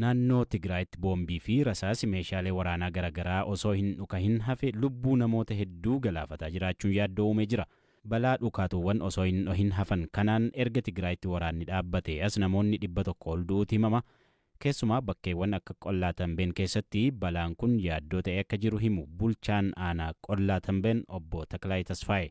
Naannoo Tigraayitti boombii fi rasaasi meeshaalee waraanaa garagaraa osoo hin dhukahin hafe lubbuu namoota hedduu galaafataa jiraachuun yaaddoo uumee jira. Balaa dhukaatuuwwan osoo hin dhohin hafan kanaan erga Tigraayitti waraanni dhaabbatee as namoonni 100 ol du'uuti himama. Keessumaa bakkeewwan akka Qollaa Tambeen keessatti balaan kun yaaddoo ta'ee akka jiru himu bulchaan aanaa Qollaa Tambeen obbo Taklaayi Tasfaaye.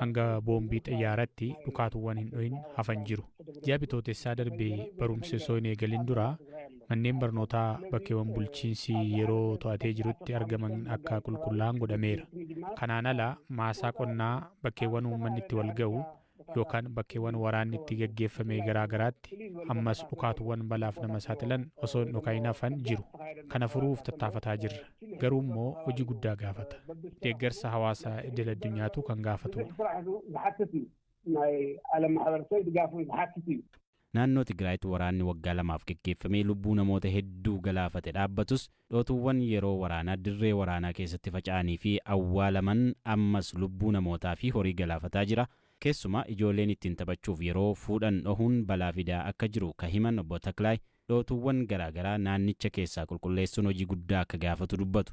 hanga boombii xiyyaaratti dhukaatuwwan hin dhohin hafan jiru. Ji'a bitootessaa darbe barumsi osoo hin eegalin dura manneen barnootaa bakkeewwan bulchiinsi yeroo to'atee jirutti argaman akka qulqullaa'an godhameera. Kanaan ala maasaa qonnaa bakkeewwan uummanni itti wal ga'u yookaan bakkeewwan waraanni itti gaggeeffame garaa garaatti ammas dhukaatuwwan balaaf nama saaxilan osoo hin dhoka'in hafan jiru. Kana furuuf tattaafataa jirra. Garuu immoo hojii guddaa gaafata. Deeggarsa hawaasa idil addunyaatu kan gaafatu. Naannoo Tigraayitti waraanni waggaa lamaaf geggeeffamee lubbuu namoota hedduu galaafate dhaabbatus, dhootuuwwan yeroo waraanaa dirree waraanaa keessatti faca'anii fi awwaalaman ammas lubbuu namootaa fi horii galaafataa jira. Keessumaa ijooleen ittiin taphachuuf yeroo fuudhan dhohuun balaa fidaa akka jiru ka himan Obbo Taklaay, dhootuuwwan garaa garaa naannicha keessaa qulqulleessuun hojii guddaa akka gaafatu dubbatu.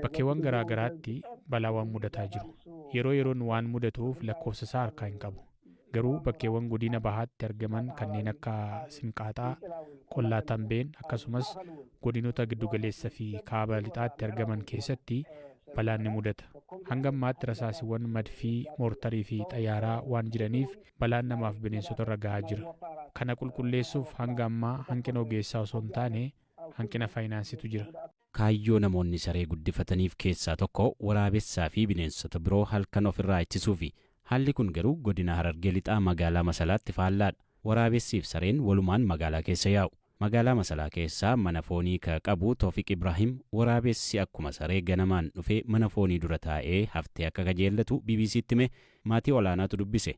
Bakkeewwan garaa garaatti balaawwan mudataa jiru. Yeroo yeroon waan mudatuuf lakkoofsa isaa harkaa hin qabu. Garuu bakkeewwan Godina Bahaatti argaman kanneen akka Sinqaaxaa, Qollaa Tambeen akkasumas Godinoota Giddugaleessa fi Kaaba Lixaatti argaman keessatti balaan ni mudata. Hanga ammaatti rasaasiwwan madfii, moortarii fi xayyaaraa waan jiraniif balaan namaaf bineensota irra gahaa jira. Kana qulqulleessuuf hanga ammaa hanqina ogeessaa osoo hin taane hanqina faayinaansiitu jira. Kaayyoo namoonni saree guddifataniif keessaa tokko waraabessaa fi bineensota biroo halkan of irraa ittisuufi. Haalli kun garuu godina Harargee Lixaa magaalaa Masalaatti faallaadha. Waraabessiif sareen walumaan magaalaa keessa yaa'u. Magaalaa Masalaa keessaa mana foonii ka qabu Tofiq Ibraahim, waraabessi akkuma saree ganamaan dhufee mana foonii dura taa'ee haftee akka kajeellatu BBC'tti hime, maatii olaanaatu dubbise.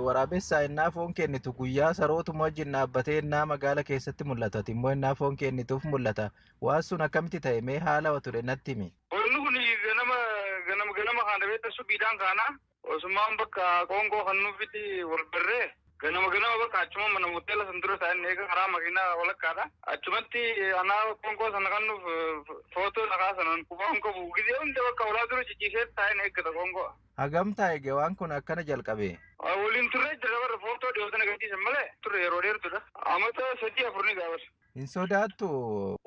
Waraabessaa ennaa foon kennitu guyyaa sarootuma wajjin dhaabbatee ennaa magaala keessatti mul'atu ati immoo ennaa foon kennituuf mul'ata. Waan sun akkamitti ta'e mee haala wa ture natti himi. Wanni kun ganama ganama kaana beekta subhiidhaan kaana. Osumaan bakka qoonqoo kan nuufitti wal barree ganama ganama bakka achuma mana hoteela san dura taa'een eega karaa makiinaa walakkaadha. Achumatti anaa qoonqoo sana kan nuuf footoo na kaasan an qubaa hin qabu. Gizee hunda bakka ulaa dura ciciisee taa'een eeggata qoonqoo. Hagam ta'a eega waan kun akkana jalqabee? Waliin turree jirra bara footoo dhiyoo sana gadhiisan malee turre yeroo dheertuudha. Amata sadii afur ni ga'a bara. Hin sodaattu.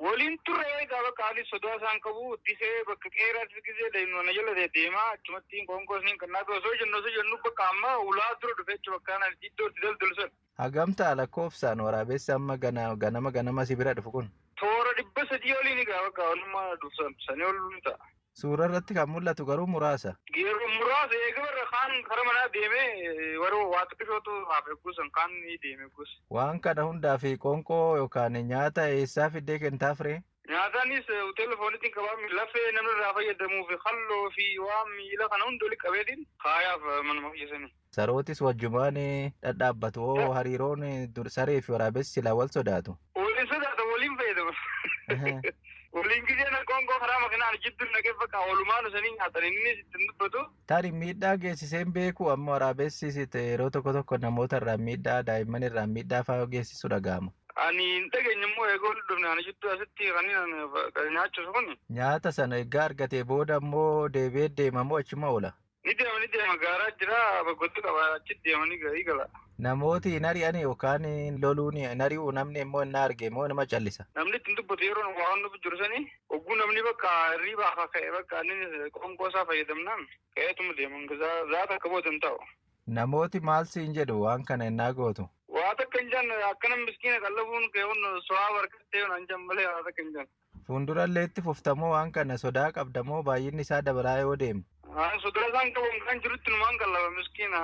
Waliin turre egaa bakka ani sodaa isaan qabu disee bakka qeeraatti gisee daa'imman na jala deemaa achumatti qoonqoos niin kan naaf osoo jennu osoo jennu bakka amma ulaa dura dhufe jechuudha bakka ana iddootti daldalu sana. Hagam ta'a lakkoofsaan waraabessa amma gana- ganama ganama si bira dhufu kun? Toora dhibba sadii oliin egaa bakka olummaa dhufsan sanii ol ni ta'a. Suuraa irratti kan mul'atu garuu muraasa. Yeroo muraasa eega warra kaan kara manaa deemee warra waa xiqqishootu haaf eegguusan kaan ni deeme eegguus. Waan kana hundaa fi qoonqoo yookaan nyaata eessaa fiddee kentaaf ree? Nyaataanis hoteela fooniitiin qabaami lafee namni irraa fayyadamuu fi halloo fi waan miila kana hunda walitti qabeetiin kaayaaf manuma kiyya sanii. Sarootis wajjumaan dhadhaabbatu. Oo hariiroon dur saree fi waraabessi silaa wal sodaatu. Waliin sodaata waliin fayyadama. Waliin gizee na qoonqoo karaa makinaan jidduu naqee bakka oolumaan isanii nyaatan innis ittiin dubbatu. Tari miidhaa geessiseen beeku amma waraabessis yeroo tokko tokko namoota irraan miidhaa daa'imman irraan miidhaa fa'aa geessisu dhaga'ama. Ani hin dhageenye immoo eegoo walitti dhufne ani jidduu asitti kanneen nyaachisu kun. Nyaata sana egaa argatee booda immoo deebi'ee deema moo achuma oola? Ni deema ni deema gaaraa jira baggottu qaba achi deema ni ga- ni gala. Namooti hin ari'ani yookaan hin loluun hin ari'u namni immoo hin arge immoo nama callisa. Namni ittiin dubbatu yeroo nu waan nuuf jiru sani ogguu namni bakka hirriibaa akka ka'e bakka inni qoonqoo isaa fayyadamnaan ka'eetuma deema hanga saa- saa takka booda hin taa'u. Namooti maal siin jedhu waan kana innaa gootu? Waa takka hin jenne akkana miskiina qallabuun kee kun so'aa barkattee yoo naan jedhan malee waa takka hin jenne. Fuundurallee itti fufta moo waan kana sodaa qabda moo baay'inni isaa dabalaa yoo deemu? Haa, sodaa isaan qabu kan jirutti numaan qallaba miskiina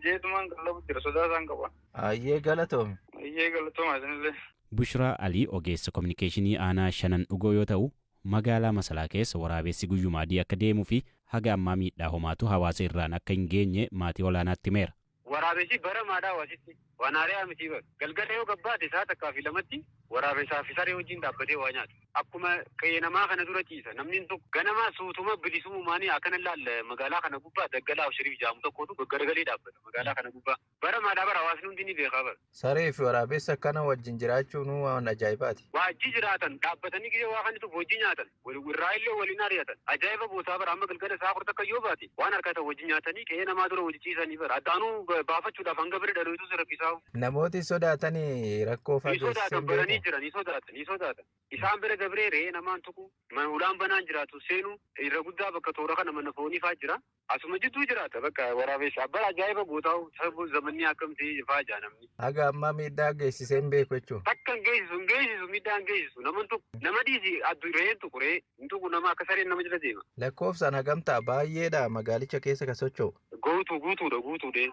jeetumaan qallabu jira sodaa isaan qaba. Hayyee galatoomi. Hayyee galatoomaa isinillee. Bushraa Alii ogeessa kominikeeshinii aanaa Shanan Dhugoo yoo ta'u, magaalaa Masalaa keessa waraabessi guyyuma adii akka deemuufi haga ammaa miidhaa homaatu hawaasa irraan akka hin geenye maatii Olaanaatti himeera. Waraabesii baramaadhaa waasitti waan haari'aa mitii bar. Galgala yoo gabbaate sa'a takkaa fi lamatti waraabesaa fi saree wajjiin dhaabbatee waa nyaata. Akkuma qe'ee namaa kana dura ciisa. Namniin tokko ganama suutuma bilisumumaanii akana laal magaalaa kana gubbaa daggalaa Abshiriif ja'amu tokkootu gaggaragalee dhaabbata magaalaa kana gubbaa. Baramaadhaa bar hawaasni hundi ni beekaa bar. Saree fi waraabessa akkana wajjin jiraachuunuu waan ajaa'ibaati. Waajjii jiraatan, dhaabbatanii gizee waa kannituuf wajjii nyaatan, wal irraayillee waliin ari'atan. Ajaa'iba bootaa bar amma galgala sa'a 10 takka yoo baate waan arkatan wajjin nyaatanii qe'ee namaa dura wajji ciisanii bar adda anuu baafachuudhaaf hanga bira dhalooytuu si rakkisaa'u. Namooti sodaatani rakkoo faa Ni geessisee sodaatan hin baranii beeku. jiran, ni sodaatan, ni sodaatan. Isaan bira dabree re'ee namaan tuqu, mana hulaan banaan jiraatu seenu, irra guddaa bakka toora kana mana foonii faa jira. Asuma jidduu jiraata bakka waraabessa abbaa ajaa'iba guutaa'u sababuu zamanni akkamti faa jaa namni. Haga ammaa miidhaa geessisee hin beeku jechuun. Takka hin geessisu hin geessisu miidhaa hin geessisu naman tuqu nama dhiisi addu re'een tuqu re'ee hin tuqu nama akka sareen nama jala deema. Lakkoofsaan hagam ta'a baay'eedha magaalicha keessa ka socho'u. Guutuu guutuudha guutuudhee.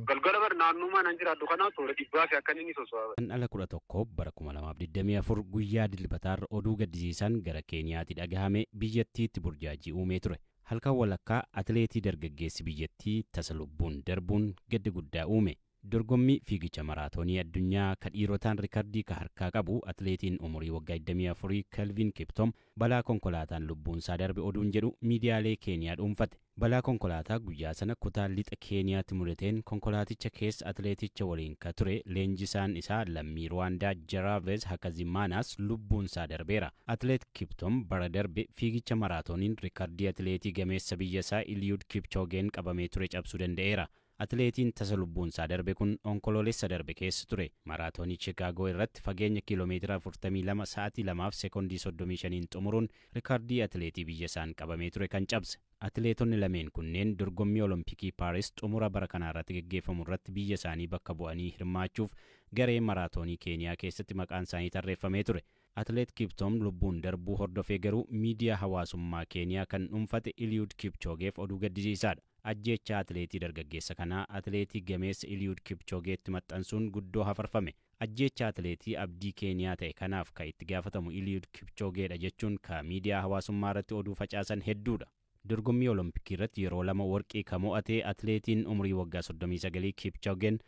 Galgala bar naannummaa nan jiraadhu kanaa toora dhibbaa fi akkan inni soso'aa. Guraandhala 11 bara 2024 guyyaa Dilbataarra oduu gaddisiisaan gara Keeniyaatii dhagahame biyyattiitti burjaajii uumee ture. Halkan walakkaa atileetii dargaggeessi biyyattii tasa lubbuun darbuun gadda guddaa uume. Dorgommii fiigicha maraatoonii addunyaa ka dhiirotaan rikardii ka harkaa qabu atileetiin umurii waggaa 24 Kelvin Kiptom balaa konkolaataan lubbuunsaa darbe oduun jedhu miidiyaalee Keeniyaa dhuunfate. Balaa konkolaataa guyyaa sana kutaa Lixa Keeniyaatti mudateen konkolaaticha keessa atileeticha waliin ka ture leenjisaan isaa lammii Ruwaandaa Jaraavez Hakazimaanaas lubbuunsaa darbeera. Atileet Kiptum bara darbe fiigicha maraatooniin rikardii atileetii gameessa biyyasaa Iliyud Kipchoogeen qabamee ture cabsuu danda'eera. Atileetiin tasa lubbuunsaa darbe kun Onkoloolessa darbe keessa ture Maraatoonii Chikaagoo irratti fageenya kiilomeetira 42 sa'atii 2 fi sekondii 35n xumuruun rikaardii atileetii biyyasaan qabamee ture kan cabse. Atileetonni lameen kunneen dorgommii Olompikii Paaris xumura bara kanaarratti geggeeffamu irratti biyya isaanii bakka bu'anii hirmaachuuf garee maraatoonii Keeniyaa keessatti maqaansaanii tarreeffamee ture. Atileet Kiptoom lubbuun darbuu hordofee garuu miidiyaa hawaasummaa Keeniyaa kan dhuunfate Iliyuud Kipchoogeef oduu gaddisiisaadha. Ajjeechaa atileetii dargaggeessa kanaa atileetii gameessa Iliyuud Kipchoogeetti maxxansuun guddoo hafarfame. Ajjeechaa atileetii abdii Keeniyaa ta'e kanaaf ka itti gaafatamu Iliyuud Kipchoogeedha jechuun ka miidiyaa hawaasummaarratti oduu facaasan hedduudha. Dorgommii Olompikiirratti yeroo lama warqii ka mo'ate atileetiin umurii waggaa 39 Kipchogen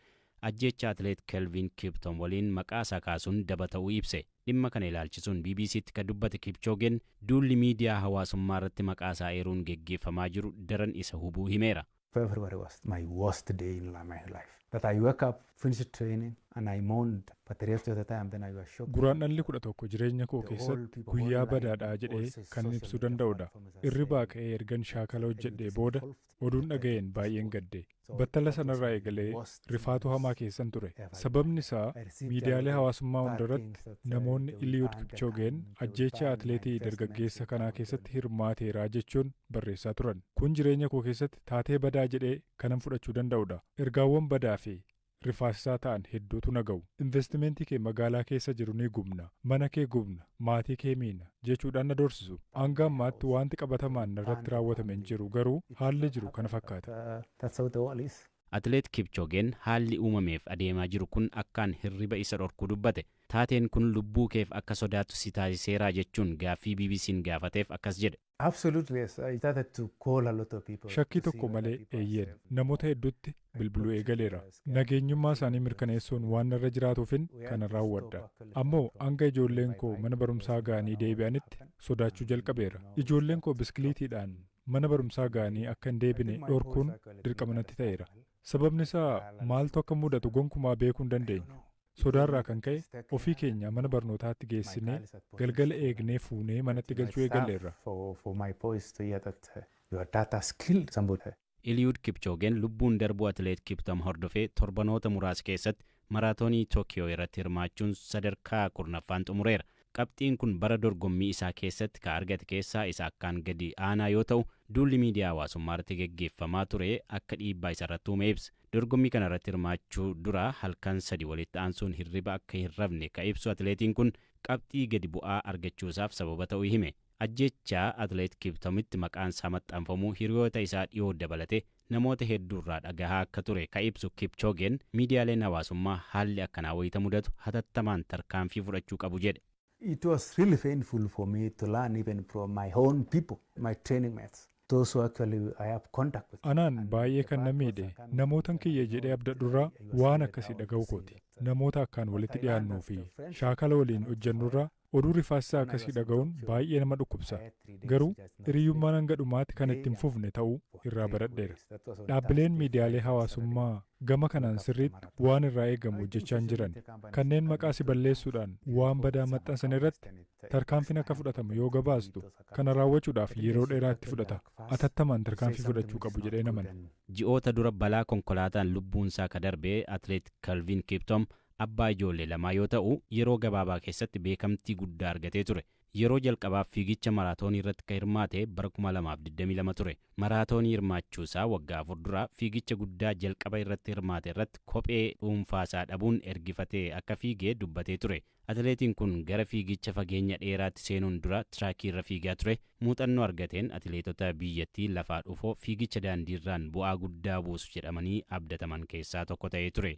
ajjeechaa atileet Kelvin Kipton waliin maqaa isaa kaasuun daba ta'uu ibse. Dhimma kana ilaalchisuun BBC'tti ka dubbate Kipchogen, duulli miidiyaa hawaasummaarratti maqaa isaa eeruun geggeeffamaa jiru daran isa hubuu himeera. February was my worst day in my life. That I woke up, finished training, and I moaned. But the rest of the time, then I was shocked. Guraandhalli 11 jireenya koo keessatti guyyaa badaadha jedhee kan ibsuu danda'udha. Irribaa ka'ee ergan shaakala hojjedhee booda oduun dhaga'een baay'een gadde. Battala sanarraa eegalee Rifaatuu hamaa keessan ture. Sababni isaa miidiyaalee hawaasummaa hundarratti namoonni Iliiyud Kipchoogeen ajjeechaa atileetii dargaggeessa kanaa keessatti hirmaateera jechuun barreessaa turan. Kun jireenya koo keessatti taatee badaa jedhee kanan fudhachuu danda'udha. Ergaawwan badaa fi rifaasisaa ta'an hedduutu na ga'u. Investimeentii kee magaalaa keessa jiru ni gubna, mana kee gubna, maatii kee miina, jechuudhaan na doorsisu. Hanga ammaatti waanti qabatamaan narratti raawwatame hin jiru, garuu haalli jiru kana fakkaata. Atileet Kipchoogeen haalli uumameef adeemaa jiru kun akkaan hirriba isa dhorkuu dubbate. Taateen kun lubbuu keef akka sodaattu si taasiseeraa jechuun gaaffii BBC'n gaafateef akkas jedhe. Shakkii tokko malee eeyyeen. Namoota hedduutti bilbiluu eegaleera. Nageenyummaa isaanii mirkaneessuun waan narra jiraatuufin kana raawwadha. Ammoo hanga ijoolleen koo mana barumsaa ga'anii deebi'anitti sodaachuu jalqabeera. Ijoolleen koo biskiliitiidhaan mana barumsaa ga'anii akka hin deebine dhorkuun dirqama natti ta'eera. Sababni isaa maaltu akka mudatu gonkumaa beekuu hin dandeenyu. Sodaarraa kan ka'e ofii keenya mana barnootaatti geessinee galgala eegnee fuunee manatti galchuu eegalleerra. Eliud Kipchogen lubbuun darbuu atileet Kiptum hordofee torbanoota muraasa keessatti Maraatoonii Tookiyoo irratti hirmaachuun sadarkaa 10ffaan xumureera. Qabxiin kun bara dorgommii isaa keessatti ka argate keessaa isa akkaan gadi aanaa yoo ta'u, duulli miidiyaa hawaasummaa irratti geggeeffamaa ture akka dhiibbaa isa irratti uume ibsa. Dorgommii kana irratti hirmaachuu dura halkan sadi walitti aansuun hirriba akka hin rafne ka ibsu atileetiin kun, qabxii gadi bu'aa argachuu isaaf sababa ta'u hime. Ajjeechaa Atileet Kiiptomitti maqaan isaa maxxanfamuu hiriyoota isaa dhiyoo dabalatee namoota hedduurraa dhagahaa akka ture ka ibsu Kipchoogeen, miidiyaaleen hawaasummaa haalli akkanaa wayita mudatu hatattamaan tarkaanfii fudhachuu qabu jedhe. It was really painful for me to learn even from my own people, my training mates, those who actually I have contact with. Anaan baay'ee kan na miidhe, namootan kiyya jedhee abdadhurraa waan akkasii dhagahuu kooti. Namoota akkaan walitti dhiyaannuu fi shaakala waliin hojjannurraa Oduu rifaasisaa akkasii dhaga'uun baay'ee nama dhukkubsa. Garuu, hiriyyummaan hanga dhumaatti kan itti hin fufne ta'uu irraa baradheera. Dhaabbileen miidiyaalee hawaasummaa gama kanaan sirriitti waan irraa eegamu hojjechaa hin jiran. Kanneen maqaa si balleessuudhaan waan badaa maxxansan irratti tarkaanfiin akka fudhatamu yoo gabaastu, kana raawwachuudhaaf yeroo dheeraa itti fudhata. Atattamaan tarkaanfii fudhachuu qabu jedheen amana. Ji'oota dura balaa konkolaataan lubbuunsaa ka darbe Atleet Kelvin Kiptum Abbaa ijoollee lamaa yoo ta'u, yeroo gabaabaa keessatti beekamtii guddaa argatee ture. Yeroo jalqabaaf fiigicha maraatoonii irratti ka hirmaate bara 2022 ture. Maraatoonii hirmaachuu isaa waggaa afur dura fiigicha guddaa jalqaba irratti hirmaate irratti kophee dhuunfaa isaa dhabuun ergifatee akka fiige dubbatee ture. Atileetiin kun gara fiigicha fageenya dheeraatti seenuun dura tiraakii irra fiigaa ture. Muuxannoo argateen atileetota biyyattii lafaa dhufoo fiigicha daandiirraan bu'aa guddaa buusu jedhamanii abdataman keessaa tokko ta'ee ture.